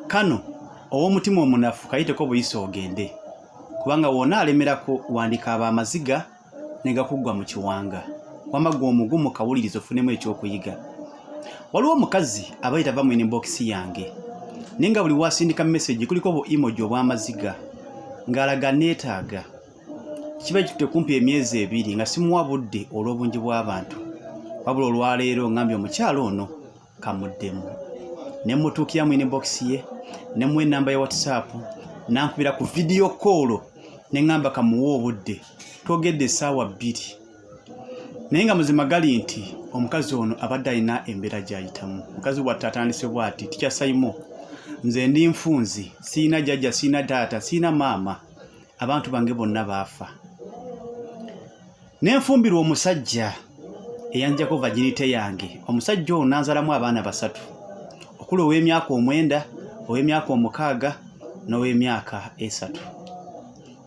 kano ow'omutima omunafu kayiteko buyisa ogende kubanga wona alemerako wandika aba amaziga ne gakuggwa mu kiwanga wama gwe omugumu kawuliriza ofunemu ekyokuyiga waliwo omukazi aba yitava mu inbox yange naye nga buli wasindika message kuliko bu emoji obw'amaziga ng'alaga neetaaga kiba kitutte kumpi emyezi ebiri nga simuwa budde olw'obungi bw'abantu wabula olwaleero ngambye omukyalo ono kamuddemu ne mutuukira mu inbox ye ne mu enamba ya whatsapp nankubira ku vidiyo koolo ne ŋŋamba kamuwa obudde twogedde essaawa bbiri naye nga muzima gali nti omukazi ono abadde alina embeera gyayitamu mukazi bwatte atandise bwati tikyasaimo nze ndi nfunzi siina jajja siina taata siina maama abantu bange bonna baafa nenfumbirwa omusajja eyanjako vaginite yange omusajja ono nanzalamu abaana basatu okuli ow'emyaka omwenda ow'emyaka omukaaga n'ow'emyaka esatu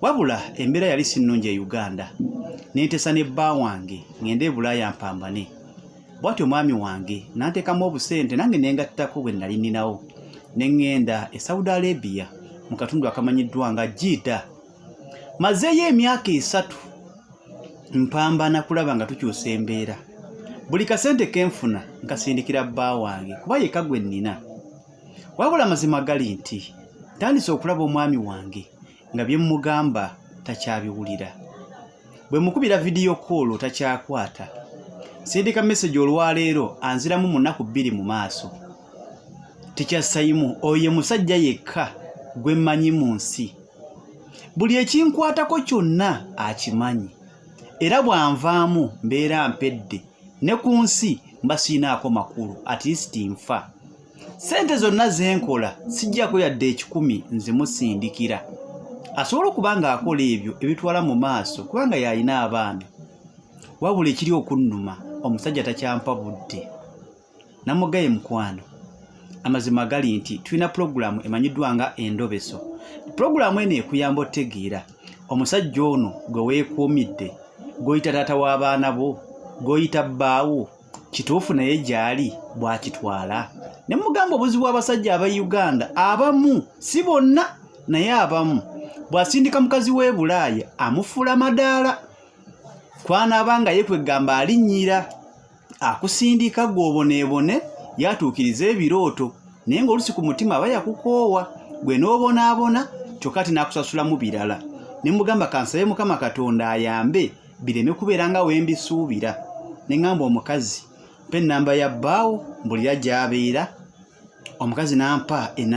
wabula embeera yali sinnungi e uganda nentesa ne bba wange ngende ebulaaya mpambane bwati omwami wange nantekamu obusente nange nengattako bwe nali ninawo ne ŋŋenda e saudi arabia mu katundu akamanyiddwa nga jiida mazeeyo emyaka esatu mpambana kulaba nga tukyusa embeera buli kasente kenfuna nkasindikira bba wange kuba yeka gwe nnina wabula amazima gali nti tandise okulaba omwami wange nga bye mmugamba takyabiwulira bwe mukubira vidiyo koolo takyakwata sindika mesegi olwaleero anziramu mu nnaku bbiri mu maaso tikya sayimu oyo musajja yekka gwe mmanyi mu nsi buli ekinkwatako kyonna akimanyi era bw'anvaamu mbeera mpedde ne ku nsi mba siinaako makulu atilisiti nfa sente zonna ze nkola sijjako yadde ekikumi nzimusindikira asobola okuba ng'akola ebyo ebitwala mu maaso kubanga yalina abaana wabula ekiri okunnuma omusajja takyampa budde namugaye mukwano amazima gali nti tulina pulogulaamu emanyiddwa nga endobeso pulogulaamu eno ekuyamba otegeera omusajja ono gwe weekuumidde gwoyita taata w'abaana bo gwoyita bbaawo kituufu naye gyali bwakitwala ne mugamba obuzibu abasajja aba uganda abamu si bonna naye abamu bw'asindika mukazi w'e bulaaya amufuula madaala kwanaaba nga ye kwegamba alinnyira akusindika gw'oboneebone yatuukiriza ebirooto naye ng'olusi ku mutima aba yakukoowa gwe n'obonaabona kyokka ati n'akusasulamu birala ne mugamba kansabe mukama katonda ayambe bireme kubeera nga wembisuubira ne ŋŋamba omukazi mpa ennamba ya bbaawo mbulira gy'abeera omukazi n'ampa enamba